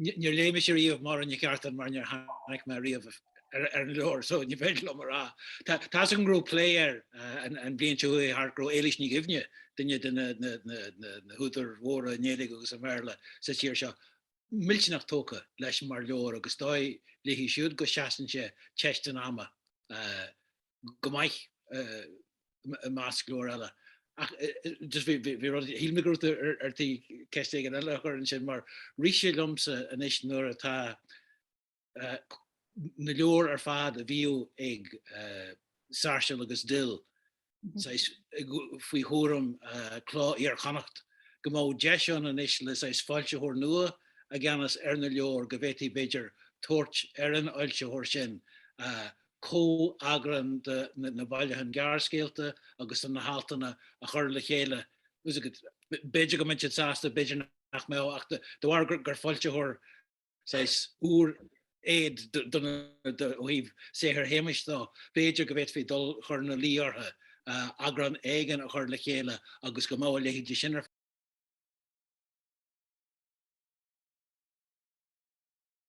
Níor léigh mise riamh Máire Nic Artáin mar níor tháinig mé riamh ar an leabhar so ní féidir liom a rá. Tá fhios agam go raibh plé air an bhliain seo a chuaigh thart go raibh Éilís Ní Dhuibhne, duine de na húdair mhóra i nGaeilge agus i mBéarla sa tír seo, millteanach tógtha leis mar leabhar agus dóigh léi siúd go seasann sé teist an ama go maith i measc leabhar eile. Ach just bhí rud, shíl mé go raibh tú ar tí ceist éigin eile a chur ansin mar rith sé liomsa anois nuair atá na leabhair ar fad a bhíodh ag Sáirséal agus Dill saghas faoi chúram Cló Iar-Chonnacht go mbeadh deis ann anois le saghas foilsitheoir nua i gceannas ar na leabhair go bhféadfaí b'fhéidir tabhairt ar an fhoilsitheoir sin a comheagrán de na bailiúcháin gearrscéalta agus de na haltanna a chur le chéile. B'fhéidir go mbeadh siad sásta, b'fhéidir nach mbeadh, ach de bharr gur foilsitheoir saghas úr iad ó thaobh saothar Shéamuis de, b'fhéidir go bhféadfaí dul chur ina luí orthu, eagrán éigin a chur le chéile agus go mbeadh a leithéidí sin ar